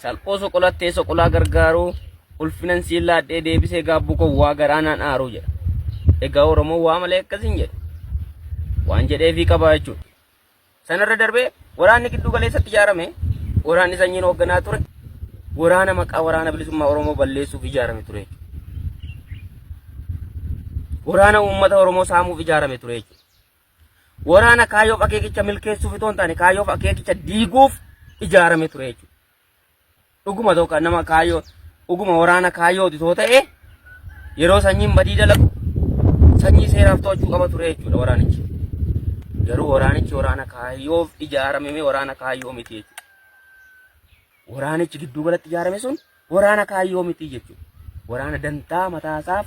Salphoo soqolattee soqolaa gargaaruu ulfinan siin laadhee deebisee gaabbuu koo waa garaanaan aaruu jedha. Egaa Oromoo waa malee akkasiin jedhe. Waan jedheefii qabaa jechuudha. Sanarra darbee waraanni gidduu galeessatti ijaarame waraanni sanyiin hoogganaa ture waraana maqaa waraana bilisummaa Oromoo balleessuuf ijaarame ture. Waraana uummata Oromoo saamuuf ijaarame ture jechuudha. Waraana kaayyoof akeekicha milkeessuuf itoo hin taane kaayyoof akeekicha diiguuf ijaarame ture jechuudha. Dhuguma tokko nama kaayyoo dhuguma waraana kaayyooti too ta'e yeroo sanyiin badii dalagu sanyii seeraaf to'achuu qaba ture jechuudha waraanichi. Garuu waraanichi waraana kaayyoof ijaarame waraana kaayyoo miti jechuudha. Waraanichi gidduu galatti ijaarame sun waraana kaayyoo miti jechuudha. Waraana dantaa mataasaaf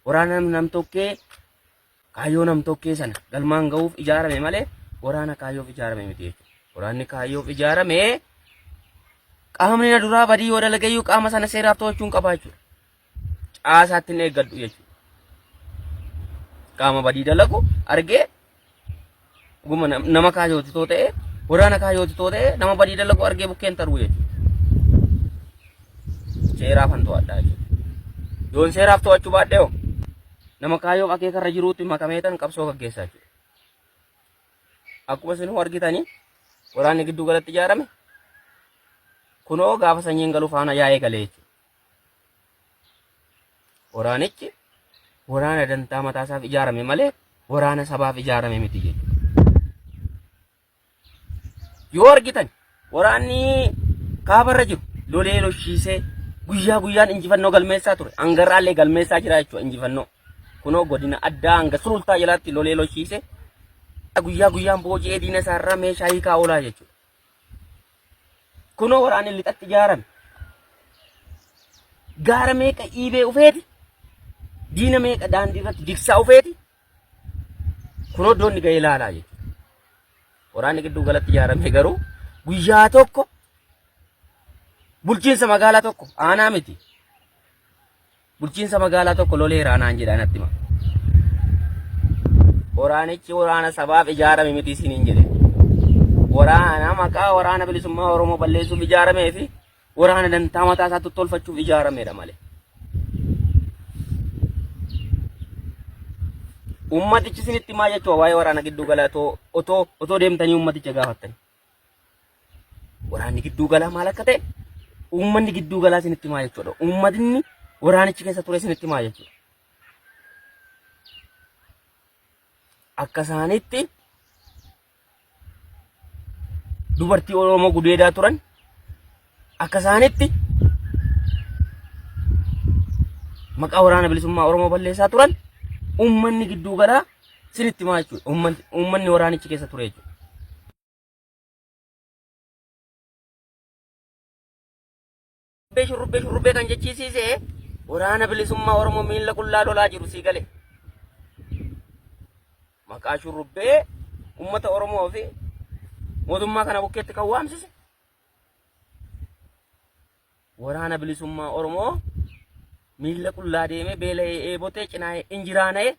waraana nam tokkee Kaayyoo nam-tokkee sana galmaan ga'uuf ijaarame malee waraana kaayyoof ijaarame miti jechuudha. Waraanni kaayyoof ijaarame qaamni na duraa badii yoo dalagayyuu qaama sana seeraaf to'achuun qabaa jechuudha. Caasaatti hin eeggadhu jechuudha. Qaama badii dalagu argee Guma nama kaayooti too ta'e waraana kaayooti too ta'e nama badii dalagu argee bukkeen taruu jechuudha. Seeraaf han to'adhaa jechuudha. Yoon seeraaf to'achuu baadhee hoo nama kaayoo akeekarra jiruutti makameetan qabsoo gaggeessaa jechuudha. Akkuma isin argitanii waraanni gidduu galatti ijaarame kunoo gaafa sanyiin galu faana yaa'ee galee jechuudha. Waraanichi waraana dantaa mataasaaf ijaarame malee waraana sabaaf ijaarame miti jechuudha. Yoo argitan waraanni kaabarra jiru lolee loshiisee guyyaa guyyaan injifannoo galmeessaa ture. Hangarraallee galmeessaa jira jechuudha injifannoo. Kunoo godina addaa hanga sulultaa jalaatti lolee loshiisee guyyaa guyyaan booji'ee diina isaarraa meeshaa hiikaa oolaa jechuudha. Kunoo waraanni lixatti ijaarame. Gaara meeqa dhiibee ufeeti. Diina meeqa daandii irratti digsaa ufeeti. Kunoo iddoonni ga'ee laalaa jechuudha. Waraanni gidduu galatti ijaarame garuu guyyaa tokko bulchiinsa magaalaa tokko aanaa miti. Bulchiinsa magaalaa tokko loleeraa naan jedhaa natti hima. Waraanichi waraana sabaaf ijaarame miti isiniin jedhe. Waraana maqaa waraana bilisummaa Oromoo balleessuuf ijaaramee fi waraana dantaa mataa isaatti tolfachuuf ijaaramedha malee. Uummatichi isinitti maa jechuudha waa'ee waraana gidduu galaa otoo otoo deemtanii uummaticha gaafattanii. Waraanni gidduu galaa maal akka ta'e uummanni gidduu galaa isinitti himaa jechuudha. Uummatni waraanichi keessa ture isinitti himaa jechuudha. Akka isaanitti dubartii Oromoo gudeedaa turan akka isaanitti maqaa waraana bilisummaa Oromoo balleessaa turan uummanni gidduu galaa sinitti himaa jechuudha. Uummanni uummanni waraanichi keessa ture jechuudha. Shurrubbee shurrubbee shurrubbee kan jechiisiise waraana bilisummaa Oromoo miila qullaa lolaa jiru sii gale. Maqaa shurrubbee uummata Oromoo fi mootummaa kana bukkeetti kan waamsise Waraana bilisummaa Oromoo miila qullaa deemee beela'ee eebotee cinaa'ee injiraana'ee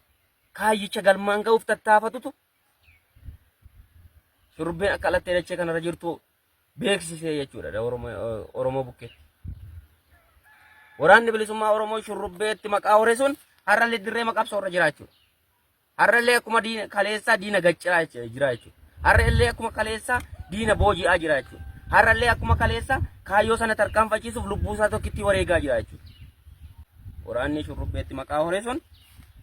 kaayyicha galmaan ga'uuf tattaafatutu shurrubbeen akka alattee dachee kanarra jirtu beeksisee jechuudha Oromoo bukkeetti. Waraanni bilisummaa Oromoo shurrubbeetti maqaa horesuun har'a liddirree maqabsoo irra jiraachudha. Har'a illee akkuma diina kaleessaa diina gacciraa jecha- jira jechuudha. Har'a illee akkuma kaleessaa diina booji'aa jira jechuudha. Har'a illee akkuma kaleessaa kaayyoo sana tarkaanfachiisuuf lubbuu isaa tokkitti wareegaa jira jechuudha. Waraanni shurrubbeetti maqaa horee sun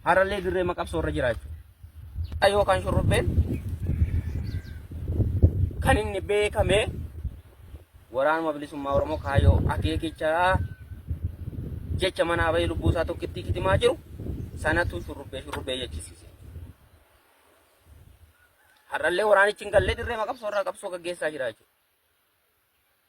har'a illee dirree maqabsoo irra jira jechuudha. Kaayyoo kan shurrubbeen kan inni beekamee waraanuma bilisummaa Oromoo kaayoo akeekicha jecha manaa bahee lubbuu isaa tokkittii kitimaa jiru sanatu shurrubbee shurrubbee jechisiise. Har'allee waraanichi hin gallee dirree maqabsoo irraa qabsoo gaggeessaa jira jechuudha.